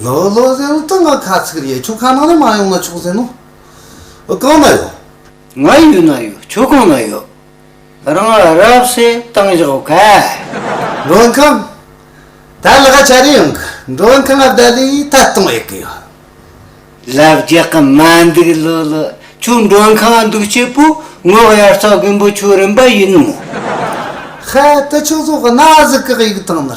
ལོ་ལོ་ཟེར་ནི་སྟོད་མངའ་ཁ་ཚིག་རེད་ཆོལ་ཁ་ནང་ནས་མ་ཡོང་ན་ཆོག་ཟེར་ནོ། གང་ན་ཡོད། ང་ཡུལ་ན་ཡོད་ཁྱོད་གང་ན་ཡོད། རང་ང་རབ་སེ་བཏང་ཞོག་ག། མགྲོན་ཁང། ད་ལ་ཁ་ཆ་རེ་ཡོང་གི་མགྲོན་ཁང་ཨ་བདའ་ལས་ད་གཏོང་ཡག་གི་ཡོད། ལབ་རྒྱག་གི་མ་འདུག་ལོ་ལོ་ཁྱོད་མགྲོན་ཁང་ཨ་འདུག་སྐྱེས་པོ་ངོ་གཡར་ཚ་མགོན་པོ་ཁྱོད་རིན་པ་ཡིན་ནོ། ཧ་ད་ཁྱོད་ཚོ་གི་ན་ཟུག་གི་ཡིག་ཐང་ནི།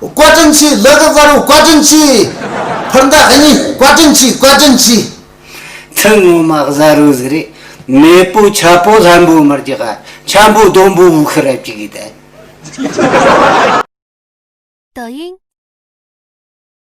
བཀའ་དྲིན་ཆེ་བླ་རི་དཀར་བོ་བཀའ་དྲིན་ཆེ། ཕར་མདའ་ཨ་མྱེས་བཀའ་དྲིན་ཆེ་བཀའ་དྲིན་ཆེ། ཐུན་སྔོན་མ་གཟའ་རུ་ཟི་རི་མེས་པོ་ཆ་པོ་ལྷམ་པོ་མར་གྱི་ཧ་ཆ་འབོ་ལྡོམ་པོ་བུ་ཁི་རབ་ཀྱི་གི་ཏལ། Douyin།